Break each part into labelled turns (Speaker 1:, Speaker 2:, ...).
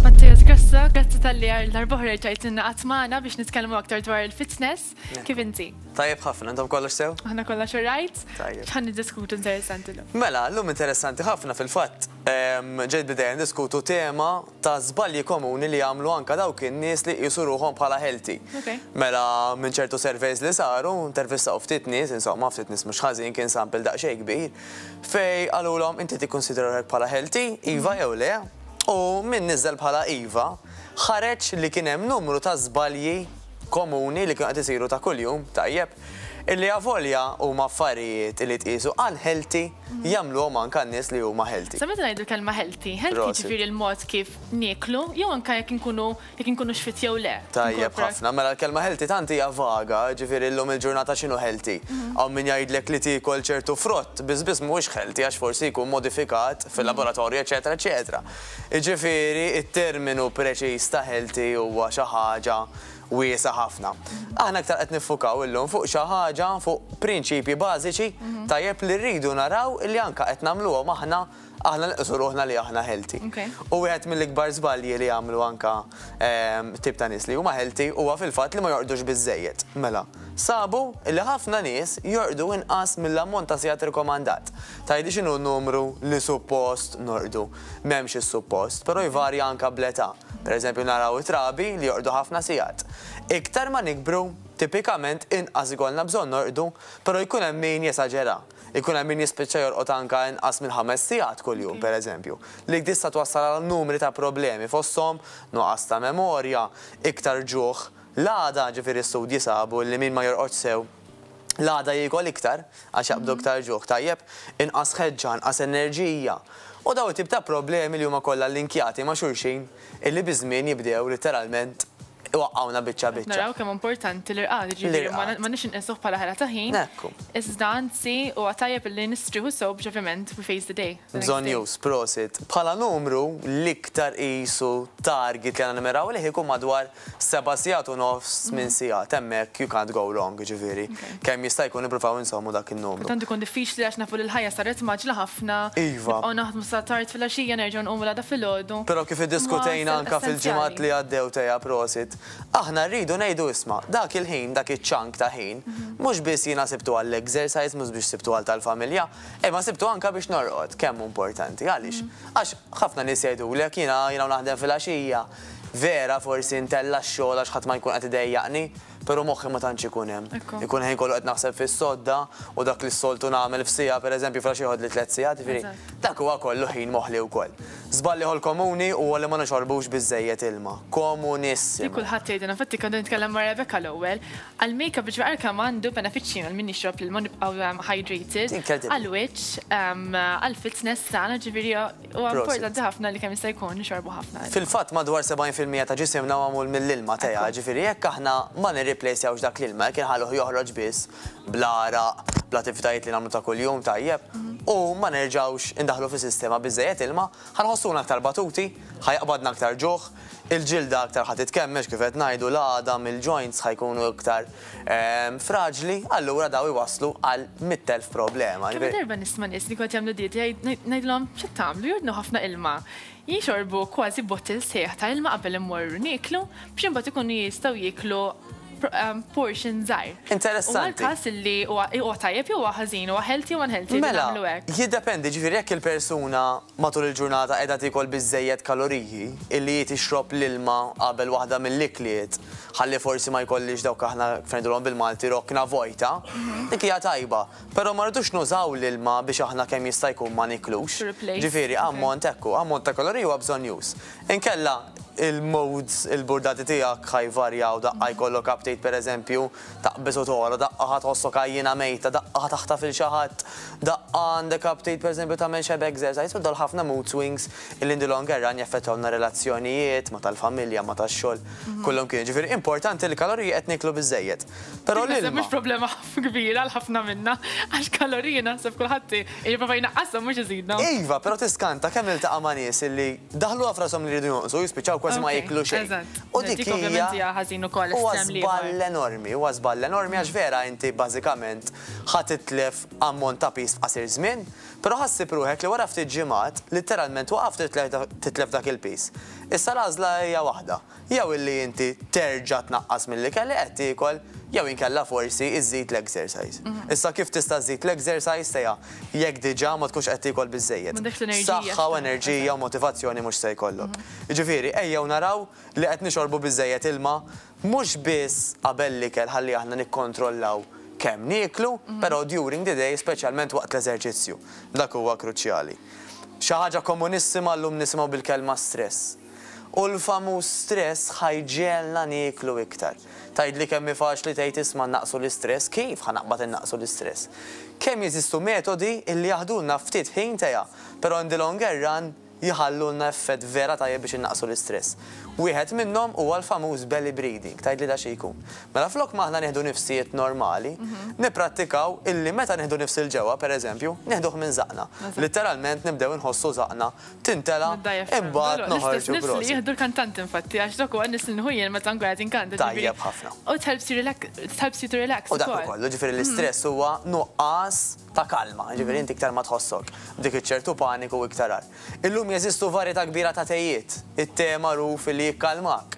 Speaker 1: Mattias Grasso, grazzi tal-li għar l-darbohra ġajtinna għatmana biex nitkellmu aktar dwar il-fitness. Kif inti? Tajjeb ħafna, intom
Speaker 2: kollox sew? Għana kollox xorrajt?
Speaker 1: Tajjeb. ħan diskutu
Speaker 2: interessanti
Speaker 1: l-lum. Mela, l-lum interessanti
Speaker 2: ħafna fil-fat. Ġejt bideja diskutu tema ta' żbalji komuni li jagħmlu anke dawk in-nies li jqisu ruħhom bħala healthy. Mela, minn ċertu surveys li saru, intervistaw ftit nies, insomma, ftit nies mhux ħażin, kien sample daqsxejn kbir, fejn qalulhom, inti tikkunsidra ruħek bħala healthy, iva jew le? U min niżżel bħala iva, ħareġ li kien hemm numru ta' żbalji komuni li kienu qed isiru ta' kuljum, tajjeb, Illi avolja huma affarijiet li tqiesu unhealthy, jagħmluhom anke għan-nies li huma healthy. Sa meta ngħidu l-kelma healthy?
Speaker 1: Healthy jiġifieri l-mod kif nieklu jew anke jekk inkunu jekk inkunux fit jew le. Tajjeb ħafna. Mela
Speaker 2: l-kelma healthy tant hija vaga, jiġifieri llum il-ġurnata x'inhu healthy? Hawn min jgħidlek li tiekol ċertu frott biss biss mhuwiex healthy għax forsi jkun modifikat fil-laboratorju eċċetera eċċetera. Jiġifieri t-terminu preċiż ta' healthy huwa xi ħaġa wiesgħa ħafna. Aħna iktar qed niffukaw illum fuq xi ħaġa, fuq prinċipji bażiċi tajjeb li rridu naraw li anke qed nagħmluhom aħna, aħna nqisu ruħna li aħna healthy. U wieħed mill-ikbar żbalji li jagħmlu anke tip ta' nies li huma healthy huwa fil-fatt li ma jorqdux biżżejjed. Mela, sabu li ħafna nies jorqdu inqas mill-ammont ta' sigħat rikomandat. Tgħidli x'inhu n-numru li suppost norqdu? m'hemmx is-suppost, però jvarja anke bl-età. Pereżempju naraw it-trabi li jorqdu ħafna sigħat. Iktar ma nikbru, tipikament inqas ikollna bżonn norqdu, però jkun hemm min jesaġera. Ikun hemm min jispiċċa jorqod anke inqas minn ħames sigħat kuljum, pereżempju, li tista' twassal għal numri ta' problemi fosthom nuqqas ta' memorja, iktar ġuħ. L-għada, ġifieri studji sabu li min ma jorqodx sew, L-għada jiekol iktar, għax jaqbdu iktar ġuħ, tajjeb, inqas ħeġġa, inqas enerġija, u dawn it-tip ta' problemi li huma kollha linkjati ma' xulxin illi biż-żmien jibdew litteralment iwaqqgħuna biċċa biċċa. Naraw kemm hu importanti
Speaker 1: l-irqad, jiġifieri m'għandniex inqisuh bħala ħela ta' ħin, iżda anzi huwa tajjeb illi nistrieħu sew biex ovvjament we face the day. Bżonnjuż,
Speaker 2: prosit. Bħala numru, l-iktar qisu target li għandna nimmiraw lejh ikun madwar Seba' sigħat u nofs, tmien sigħat, hemmhekk you can't go wrong, jiġifieri kemm jista' jkun nippruvaw inżommu dak in-numru. Tant ikun diffiċli għax nafu
Speaker 1: li l-ħajja saret mgħaġġla ħafna, nibqgħu naħdmu
Speaker 2: sa tard
Speaker 1: filgħaxija nerġgħu nqumu l-għada filgħodu. Però kif iddiskutejna
Speaker 2: anke fil-ġimgħat li għaddew Tea prosit, aħna rridu ngħidu isma' dak il-ħin, dak iċ-chunk ta' ħin, mhux biss jiena sibtu għall-exercise, mhux biss sibtu għal tal-familja, imma sibtu anke biex norqod, kemm hu importanti. Għaliex? Għax ħafna nies jgħidulek jiena, jiena u naħdem filgħaxija, Vera forsi ntella' x-xogħol għax ħadd ma jkun qed idejjaqni, però moħħi ma tantx ikun hemm. Ikun ħin kollu qed naħseb fis-sodda u dak li s-soltu nagħmel f'siegħa pereżempju filgħax jieħodli tliet sigħat, jiġifieri dak huwa kollu ħin moħli wkoll. Żball ieħor komuni huwa li ma nixorrbux biżżejjed ilma. Komunissimu! Li kulħadd jgħidilna, infatti
Speaker 1: kont qed nitkellem ma' Rebecca l-ewwel, għall-makeup biex jara kemm għandu benefiċċji mela min jixrob l-ilma u nibqgħu hydrated, għall-wiċċ, għall-fitness tagħna, ġifieri Huwa importanti ħafna li kemm jista' jkun nixorbu ħafna ilma. Fil-fatt madwar 70
Speaker 2: fil-mija ta' ġisimna huwa magħmul mill-ilma, Tea, ġifieri jekk aħna ma nirriplejsjawx dak l-ilma, jekk inħalluh joħroġ biss bl-għaraq, bl-attivitajiet li nagħmlu ta' kuljum tajjeb, u ma nerġgħux indaħħlu fis-sistema biżżejjed ilma, ħa nħossuna aktar batuti, ħa jaqbadna aktar ġuħ, il-ġilda aktar ħa titkemmex kif qed ngħidu, l-għadam, il-joints ħa jkunu iktar fraġli, allura dawn iwasslu għal mitt elf problema. Kemm-il darba nisma' nies li
Speaker 1: kont jagħmlu dieta ngħidilhom, x'qed tagħmlu, jordnu ħafna ilma. Jixorbu kważi bottle sħiħ ta' ilma qabel immorru nieklu biex imbagħad ikunu jistgħu jieklu portion żgħir. Interessanti. Huwa l-każ
Speaker 2: li
Speaker 1: huwa tajjeb jew huwa ħażin, huwa healthy jew unhealthy li nagħmlu hekk? Mela, jiddependi, jiġifieri jekk
Speaker 2: il-persuna matul il-ġurnata qiegħda tiekol biżżejjed kaloriji, illi hi tixrob l-ilma qabel waħda mill-ikliet, ħalli forsi ma jkollix dawk aħna kif ngħidulhom bil-Malti rokna vojta, dik hija tajba, però ma rridux nużaw l-ilma biex aħna kemm jista' jkun ma niklux. Ġifieri ammont ekku, ammont ta' kaloriji huwa bżonnjuż. Inkella il-moods, il-burdati tiegħek ħa jvarjaw, daqqa jkollok aptit pereżempju, taqbeż u togħla, daqqa ħa tħossok għajjiena mejta, daqqa ħa taħtaf 'il xi ħadd, daqqa għandek aptit pereżempju tagħmel xebgżercise u dawn ħafna mood swings illi in the long erun jaffettwawna r-relazzjonijiet, ma' tal-familja, ma' tax-xogħol, kollu mkien. Jiġifieri importanti li l-kaloriji qed niklu biżżejjed. Però l-ilma. Naħseb mhux problema
Speaker 1: kbira għal ħafna minna, għax kaloriji naħseb kulħadd jipprova jnaqqashom mhux iżidhom. Iva, però tiskanta
Speaker 2: kemm niltaqa' ma' nies illi daħluha f'rashom li jridu
Speaker 1: jonqsu,
Speaker 2: jispiċċaw kważi ma
Speaker 1: jieklu
Speaker 2: xejn.
Speaker 1: U
Speaker 2: dik hija,
Speaker 1: huwa
Speaker 2: żball enormi, huwa żball enormi għax vera inti bażikament ħa titlef ammont ta' piż f'qasir żmien, Però ħassib ruħek li wara ftit ġimgħat, litteralment waqaft titlef dak il-piż. Issa l-għażla hija waħda, jew illi inti terġa' tnaqqas mill-ikel li qed tiekol jew inkella forsi iżżid l-exercise. Issa kif tista' żżid l-exercise tiegħa jekk diġà ma tkunx qed tiekol biżżejjed? Saħħa u enerġija u motivazzjoni mhux se jkollok. Jiġifieri ejjew naraw li qed nixorbu biżżejjed ilma Mhux biss qabel l-ikel ħalli aħna nikkontrollaw kemm nieklu, però during the day, speċjalment waqt l-eżerċizzju. Dak huwa kruċjali. Xi ħaġa komunissima llum nisimgħu bil-kelma stress. U l-famuż stress ħa jġegħelna nieklu iktar. Tgħidli kemm hi faċli tgħid isma' nnaqqsu l-istress, kif ħa naqbad innaqqsu l-istress? Kemm jeżistu metodi illi jaħdulna ftit ħin teha, però in the longer run, jħallulna effett vera tajjeb biex innaqqsu l-istress. Wieħed minnhom huwa l-famuż belly breathing, tgħidli da xi jkun. Mela flok ma aħna nieħdu nifsijiet normali, nipprattikaw illi meta nieħdu nifs 'il ġewwa, pereżempju, nieħduh minn żaqqna. Litteralment nibdew inħossu żaqqna tintela' imbagħad noħorġu prosit. L-istess nifs li jieħdu l-kantanti
Speaker 1: infatti għax dak huwa n-nifs li nieħu jien meta nkun qed inkanta ġifieri. Tajjeb ħafna. U it-helps you relax ukoll. U dak ukoll, jiġifieri
Speaker 2: l-istress huwa nuqqas. ta' kalma, jiġifieri inti iktar ma tħossok b'dik iċ-ċertu paniku u iktar agħar. Illum jeżistu varjetà kbira ta' tejiet, it-te magħruf li jikkalmak.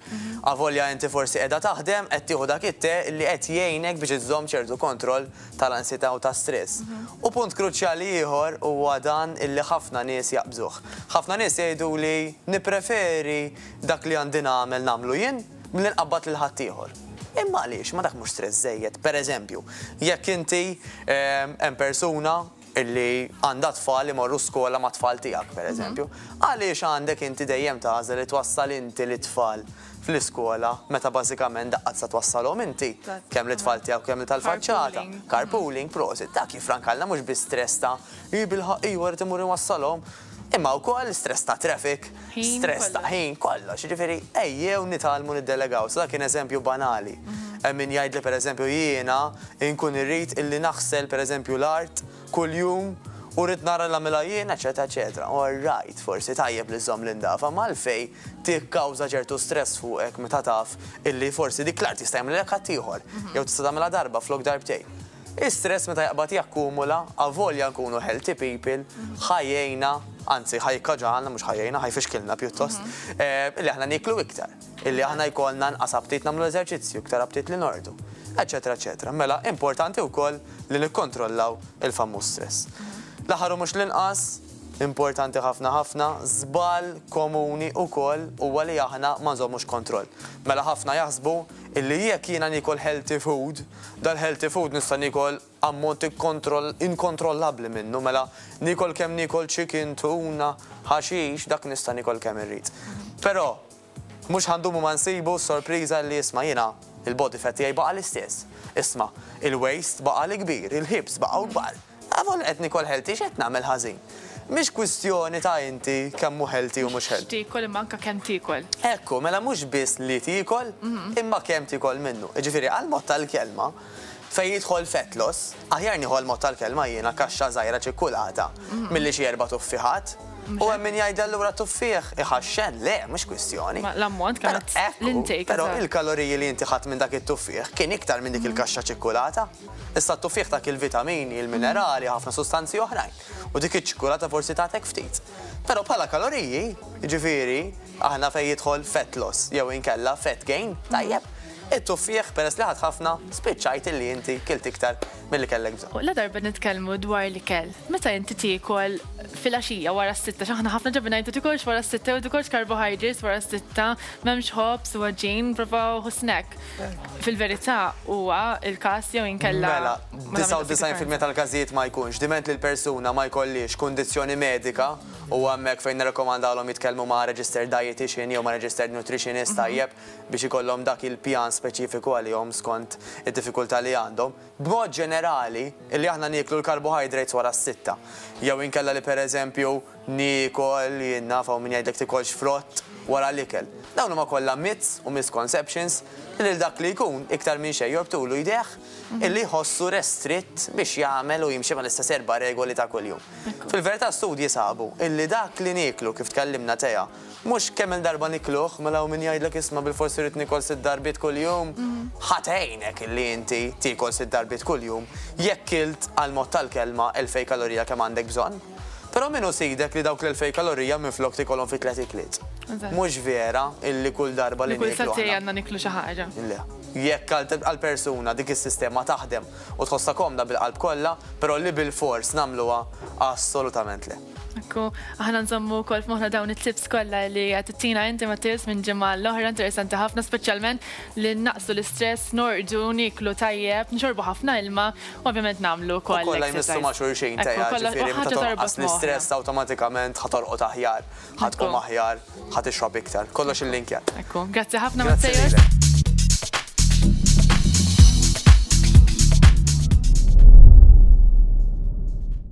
Speaker 2: Avolja inti forsi qiegħda taħdem, qed tieħu dak it-te li qed jgħinek biex iżżomm ċertu kontroll tal-ansjetà u tas-stress. U punt kruċjali ieħor huwa dan illi ħafna nies jaqbżuh. Ħafna nies jgħiduli nippreferi dak li għandi nagħmel nagħmlu jien, milli nqabbad lil ħaddieħor. Imma għaliex? Ma dak mhux stress żejjed? Per eżempju, jekk inti hemm persuna illi għandha tfal imorru skola ma' tfal tiegħek, per eżempju, għaliex għandek inti dejjem tagħżel li twassal inti lit-tfal fl-iskola meta bażikament daqqa tista' twassalhom inti, kemm lit-tfal tiegħek u kemm tal-faċċata, carpooling, prosit, dak jiffrankalna mhux bi stress ta' hi bilħaqq iwa rrid imur inwassalhom Imma wkoll stress ta' traffic, stress ta' ħin, kollox. Jiġifieri ejjew nitgħallmu niddelegaw. Sa dan kien eżempju banali. Hemm min jgħid li pereżempju jiena nkun irrid illi naħsel pereżempju l-art kuljum u rrid nara li nagħmilha jien, eċċetera eċċetera. All right, forsi tajjeb li żżomm l-indaf, imma għalfejn tikkawża ċertu stress fuqek meta taf illi forsi dik l-art jista' jagħmlilek ħaddieħor jew tista' tagħmilha darba flok darbtejn. Is-stress meta jaqbad jakkumula, avolja nkunu healthy people, ħa jgħinna, anzi ħa jikkaġalna, mhux ħa jgħinna, ħa jfixkilna pjuttost, li aħna nieklu iktar, illi aħna jkollna nqas aptit nagħmlu eżerċizzju, iktar aptit li norqdu, eċċetera eċċetera. Mela, importanti wkoll li nikkontrollaw il-famuż stress. L-aħħar u mhux l-inqas, importanti ħafna ħafna, żball komuni wkoll huwa li aħna ma nżommux kontroll. Mela ħafna jaħsbu illi jekk jiena niekol healthy food, Dal-healthy food nista' niekol ammont inkontrollabbli minnu, mela niekol kemm niekol chicken, tuna, ħaxix, dak nista' niekol kemm irrid. Però, mhux ħa ndumu ma nsibu s-sorpriża li isma' jiena, il-body fat tiegħi baqa' l-istess. Isma', il-waist baqa' l-ikbir, il-hips baqgħu kbar. Għavol qed nikol healthy x'qed nagħmel ħażin? Mhix kwistjoni ta' inti kemm hu healthy u mhux healthy. Mhux x'tiekol imma anke kemm tiekol.
Speaker 1: Ekku, mela mhux
Speaker 2: biss li tiekol, imma kemm tiekol minnu. Jiġifieri għall-mod tal-kelma, fejn jidħol fat loss, aħjar nieħu għall-mod tal-kelma jiena kaxxa żgħira ċikkulata milli xi erba' tuffiħat. U hemm min jgħid li allura tuffieħ iħaxxen. Le, mhux kwistjoni. Ma l-ammont kemm qed
Speaker 1: l-intake. Però il-kaloriji
Speaker 2: li inti ħadt minn dak it-tuffieħ kien iktar minn dik il-kaxxa ċikkulata. Issa t-tuffiħ tak il-vitamini, il-minerali, ħafna sustanzi oħrajn. U dik iċ-ċikkulata forsi tagħtek ftit. Però bħala kaloriji, jiġifieri, aħna fejn jidħol fat loss jew inkella fat gain, tajjeb? It-tuffiħ peress li ħadt ħafna, spiċċajt illi inti kilt iktar milli kellek bżonn. U ladarba nitkellmu
Speaker 1: dwar l-ikel, meta inti tiekol filgħaxija wara s-sitta, x'aħna ħafna ġabi ngħidu tikolx wara s-sitta u tikolx carbohydrates wara s-sitta, m'hemmx ħobż u għaġin, prova ħu snack. Fil-verità huwa l-każ jew inkella. Mela,
Speaker 2: 99% tal-każijiet ma jkunx, diment li l-persuna ma jkollhiex kundizzjoni medika, huwa hemmhekk fejn nirrakkomandalhom jitkellmu ma' registered dietician jew ma' registered nutritionist tajjeb biex ikollhom dak il-pjan speċifiku għalihom skont id-diffikultà li għandhom. B'mod ġenerali, li aħna nieklu l-carbohydrates wara s-sitta jew inkella li pereżempju, Niekol, jien naf hawn min jgħidlek tikolx frott wara l-ikel. Dawn huma kollha myths u misconceptions li lil dak li jkun iktar minn xejn jorbtulu jdejh illi jħossu restritt biex jagħmel u jimxi mal-istess erba' regoli ta' kuljum. Fil-verità studji sabu illi dak li nieklu, kif tkellimna Tea, mhux kemm-il darba nikluh, mela hawn min jgħidlek isma' bilfors irrid niekol sitt darbiet kuljum. Ħa tgħinek illi inti tiekol sitt darbiet kuljum jekk kilt għall-mod tal-kelma elfej kalorija kemm għandek bżonn. Però min hu sidek li dawk l-elfej kalorija minflok tikolhom fi tliet ikliet? Mhux vera illi kull darba li nieklu aħna. Li kull satej għandna niklu xi
Speaker 1: ħaġa. Le. Jekk
Speaker 2: għal persuna dik is-sistema taħdem u tħossha komda bil-qalb kollha, però li bilfors nagħmluha assolutament le. Hekk hu. Aħna
Speaker 1: nżommu wkoll f'moħħna dawn it-tips kollha li qed ittina inti Mattias minn ġimgħa għal oħra, interessanti ħafna speċjalment li nnaqsu l-istress, norqdu, nieklu tajjeb, nixorbu ħafna ilma, Ovvjament nagħmlu wkoll. Ukoll ħa jmissu ma' xulxin
Speaker 2: tejha, ġifieri meta tonqas l-istress awtomatikament ħa torqod aħjar, ħa tqum aħjar, ħa tixrob iktar.
Speaker 1: Kollox
Speaker 2: illinkjat.
Speaker 1: Ekku.
Speaker 2: Grazzi ħafna
Speaker 1: Matteo.